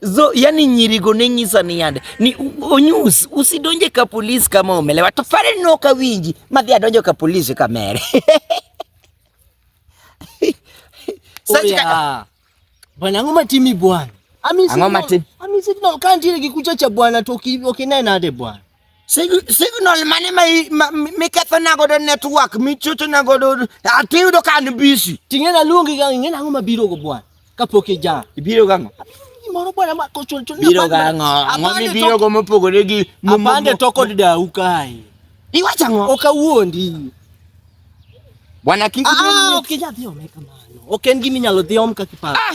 zo yani nyirigo ne nyisa ni yande ni onyus usidonje ka polis kama omelewa to fare no ka winji madhi adonjo ka polis ka mere Oya. Bwana ang'o matimi bwana? Ami Ang'o sidno- matim- Ami sidno ka ntiere gi kucha cha bwana to oki- okinena ade bwana. signal mane ma miketho na godo network michocho na godo atiyudo ka an busy ting'e na luongi ga ing'e na ma biro go bwana kapok ija ibiro ga ngo moro bwana ma kochul chul biro ga ngo ngo mi biro go mopogore gi mapande to kod dau kai iwacha ngo okawuondi bwana kiki ah, ok ija dhi ome kamano ok en gimi nyalo dhi om ka kiparo ah!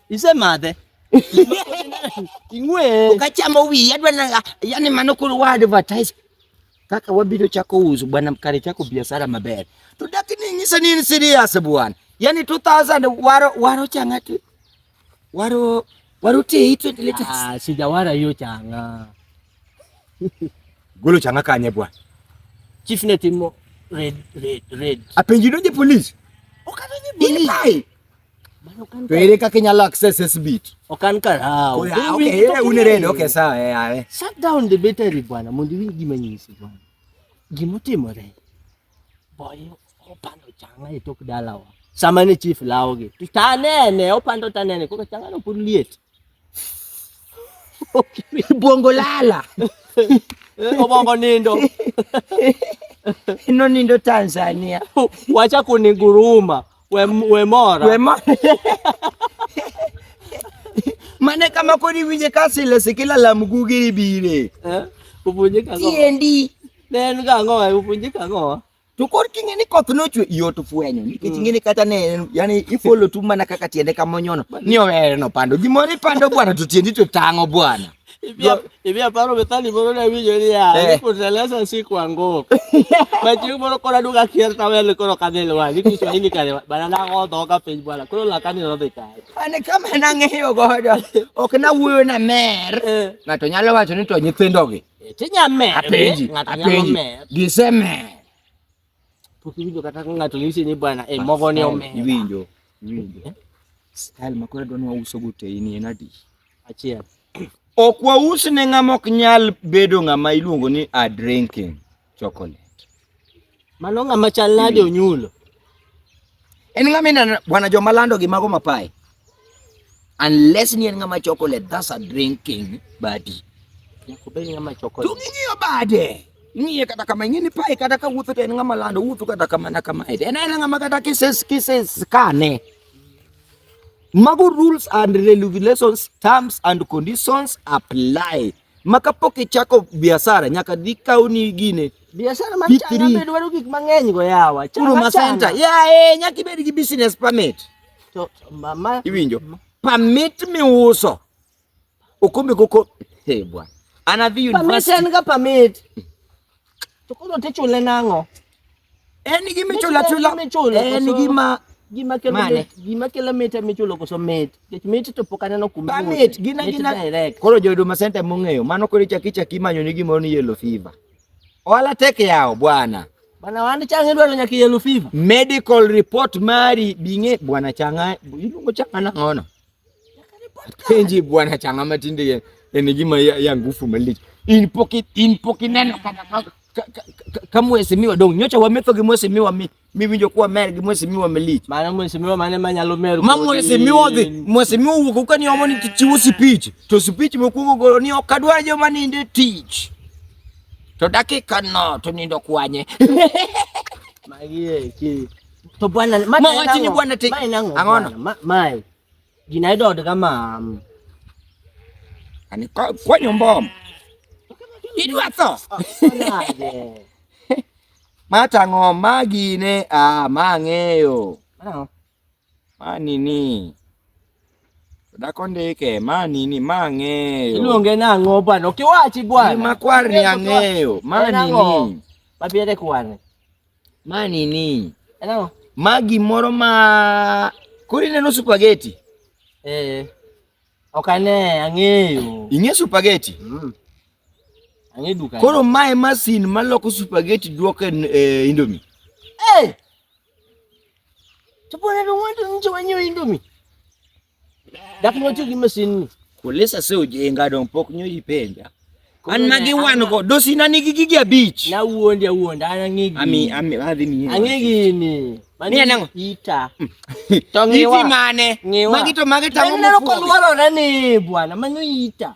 isemadhe ing'we ukachamo wiyi adwa na yani mano koro wa advertise kaka wabiro chako uso bwana mkare chako biashara maber to dakini nyisa ni in serious bwana yani 2000 waro waro changa tu waro waro tei 20 liters ah sijawara hiyo changa golo changa kanye bwana chief netimo red red red apenjino je police ukadonye police To ere kaka inyalo access this beat? Ok an kar hawo. Ah, okay, ere un red, okay, sawa, eh, awe. Shut down the battery bwana, mondo iwinj gima nyisi bwana. Gima otimore. Boyo opando changa e tok dalawa. Sama ne chief lawogi. To tanene, opando tanene, koro changa no pod liet. Obwongo lala. Obongo nindo. Ino nindo Tanzania. Wacha kuniguruma. We, we mora. We mora. Mane kama kodi winje kasile sikila la mgugi bire. Eh? Upunjika ngo. Tiendi. Nen ga ngo, upunjika ngo. To kod king'e ni koth nochwe yot fwenyo nikech mm. ing'eni kata ne yani ifolo tu mana kaka tiende kama onyono ni owere no pando gimoro ipando bwana to tiendi to tang'o bwana Hivi aparo methali moro ne winjo niya, eh. kuteleza si kuanguka. Machieng' moro koro aduka kier tawele koro kadhi lwar, ni Kiswahili kare bana nagodho ka piny bwana, koro lakani nodhi kare. An kama nang'eyo godo, ok nawuoyo na mer, eh. ng'ato nyalo wacho ni to nyithindogi Tija mer. Apenji, apenji. Gise mer. Pok iwinjo kata ka ng'ato nyisi ni bwana e mogo ni omer. Iwinjo, iwinjo. Eh? Style ma koro dwani wauso go te in en adi? Achiel. Ok waus ne ng'ama ok nyal bedo ng'ama iluongo ni a drinking. chocolate. Mano ng'ama chal nade onyulo? En ng'ama ineno bwana joma lando gi mago mapae. Unless ni en ng'ama chocolate, that's a drinking badi. Nyako bed ng'ama chocolate. To ng'iyo bade. Ng'iye kata kama ng'ini pae kata ka wuotho to en ng'ama lando wuotho kata kama na kama. En en ng'ama kata kises kises kane. Mago rules and regulations, terms and conditions apply. ma kapok ichako biashara nyaka dhi kaw ni gine biashara mar chana be dwaro gik mang'eny go yawa chana ma center ya eh nyaka ibed gi business permit to mama iwinjo permit mi uso okombe koko hey bwana anadhi university permit en ga permit To koro tichule nang'o? En gima ichulo achula. En gima gima kelo mit gima kelo mit ema ichulo koso mit nikech mit to pok aneno kuma ba mit gina gina koro jo Huduma Center mong'eyo mano koro ichaki chaki manyo ni gimoro ni yellow fever ohala tek yawo bwana bwana wan chang'e dwaro nyaka yellow fever medical report mari bing'e bwana chang'a iluongo chang'a nang'ono Kenji bwana changa matinde ene gima ya, ya ngufu malich. In pocket in pocket neno kata ka mwesimiwa dong nyocha wametho gi mwesimiwa mi miwinjo kuwa mer gi mwesimiwa malich. Mano mwesimiwa mane manyalo mer. Ma mwesimiwa dhi mwesimiwa wuok ka ni omo ni chiwo speech to speech mokuongo golo ni ok adwar joma ninde tich to dakika no to nindo kwanye. Magie ki to bwana ma ma wachi ni bwana te angono ma mai gina ido de kama ani kwa kwa nyombo idu ato ma tango ma gine a ma ngeyo ma nini Dako ndike ma nini ma ang'eyo. Iluonge nang'o bwana? Okiwachi bwana. Ni makwar ni ang'eyo. Ma nini? Mabire kwane. Ma nini? Hello. Ma gimoro ma kuri neno supageti. Eh. Ok ane, ang'eyo. Ing'e supageti? Mm. Ang'e duka. Koro ma e masin ma loko supageti duoko e eh, Indomie. Eh. Hey! Tupone ndio watu nje wenyewe Indomie. Dak notiyo gi masin ni. Kulisa se ojenga dong pok nyo ipenja. An magi wan go dosina nigi gigi abich. Na wuondi awuonda an ang'egi. Ami ami adhi ni. Ang'egi ni. Mani anango. Ita. To ngiwa. Iti mane? Ngiwa. Magi to magi tango mfuwa. Neno kwa lwalo na ni bwana manyo ita.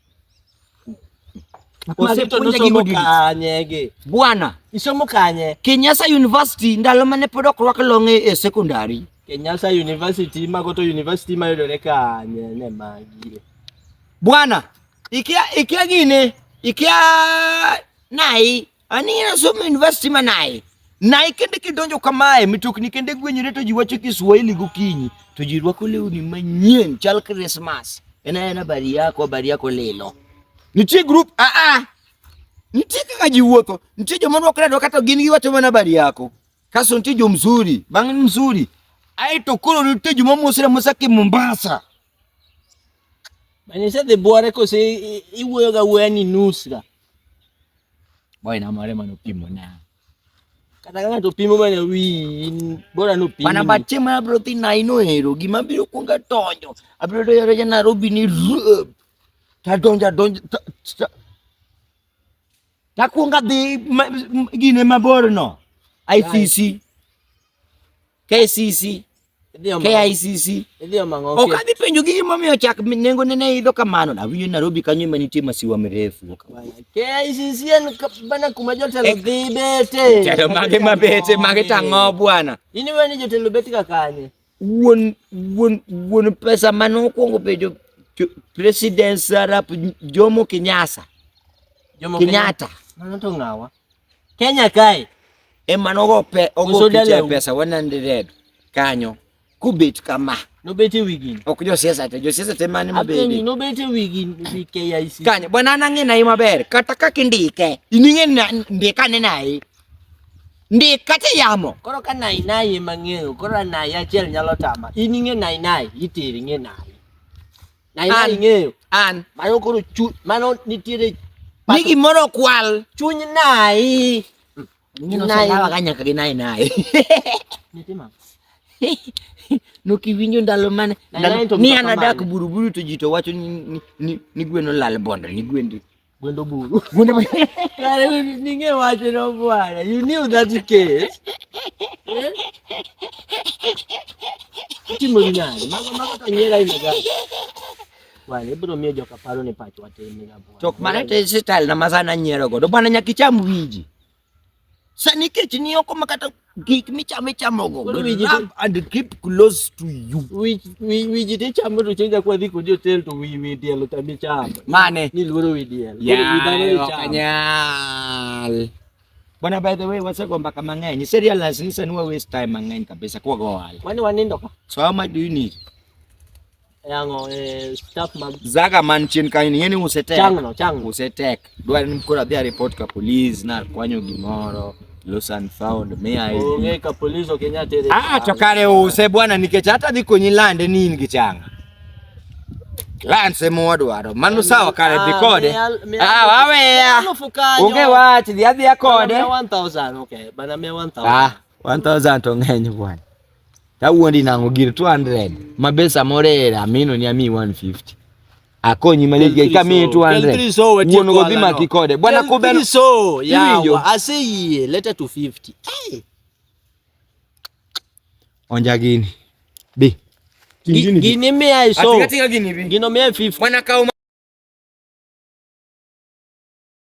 Bwana isomo kanye? Kenyasa University ndalo mane pod ok rwak longe e secondary. Kenyasa University mago to university mayudore kanye ne magi. Bwana ikia ikia gine ikia nai Ani en asomo university ma naye. Naye kende kidonjo kamae mitokni kende gwenyore to ji wacho Kiswahili gokinyi to ji rwako lewni manyien chal Christmas. En en habari yako habari yako lilo. Nitie group a ah, a. Ah. Nitie kaka ji wuotho. Nitie joma rwakore rwaka to gin giwacho mana habari yako. Kaso nitie jo mzuri, bang' mzuri. Aito koro nitie joma mosre mosa ki Mombasa. Mani isedhi bwore kose iwuoyo ga wuoya ni nus ga. Boy na mare mano pimo na. Kata ka ng'ato pimo mana wi bora no pimo. Mana bache ma abro thi na ino hero gima biro kuonga tonyo. Abiro to yore jana robi ni rub. Ta donja donja ta, ta, ta kuonga dhi gine mabor no. ICC. Right. KCC, KICC. Ok adhi penjo gi gimomiyo chak nengo ne ne idho kamano. Nawinjo Nairobi kanyo ema nitie masiwa mirefu. KICC en bana kuma jotelo eh, dhi bete. Jalo mage mabete, mage tang'o bwana. Ini weni jotelo beti ka kanye. Wuon, wuon, wuon pesa mane okwongo bedo President Sarap Jomo Kenyatta. Jomo Kenyatta. Mano to ng'awa. Kenya kae ema nogo pe ogo Uso picha e dalau. pesa 100 kanyo kubet kama Nobet e wigi. ok josiasa te josiasa te mane Apenji mabede nobet e wigi wi KIC. kanyo bwana an ang'e naye maber kata kaka indike ining'e na- ndika ne naye ndik kata yamo Koro ka nai nai ema ng'eyo, koro nai achiel nyalo tama. In ing'e nai nai, itiri ing'e nai. Na ina ing'eyo. An. Mano koro chu, mano nitiere. Ni gimoro kwal. Chuny nayi. Ngino salawa ka nyaka gi nayi nayi. Nitima. Nokiwinjo ndalo mane. Ni anadak buruburu to ji to wacho ni, ni, ni, ni gweno lal bondo, ni gwendi. Gwendo buru. Gwendo buru. Kare ninge wacho no bwana. You knew that case. Eh? Timo ni nani? Mago mago tanyera ina gani? Wale bro mie joka paro ni pacho atende ga bwana. Chok mane te sital na mazana nyero go. Do bwana nyakicham wiji. Sani kech ni oko ma kata gik michamo ichamogo. Koro wi ji- Rub and keep close to you. Wi- wi- wi ji tichamo to chieng' jakuwa dhi kodi otel to wi wi diel otami ichamo Mane? ni luoro wi diel Koro wi dhano Yaye, ok ichamo. anyal. Bwana, by the way, wasego mbaka mang'eny. Ise realize ni sani wa waste time mang'eny kabisa kwa go ohala. Mani wanindo ka So how much do you need? yango eh, staff mag zaga man chien kanyo ni yeni usetek chang no chang usetek dwa ni mkora dhia report ka police na kwanyo gimoro lost and found me i onge ka police okenya tere ah, ah to kare use bwana nikech hata dhi konyi lande ni in gi changa lanse modwaro mano sawa kare dhi ah, kode ah waweya onge wach dhi adhiya kode 1000 okay bana 1000 ah 1000 to ng'eny bwana tawuondi nango gir 200 ma be samoro era amino ni ami 150 akonyi malich gei kamiyi 200 wuon go dhi maki kode bwana kubel so yawa aseyie leta 250 hey. onja gini bi gini, gini mi ai so gino mi ai 50 mwana kauma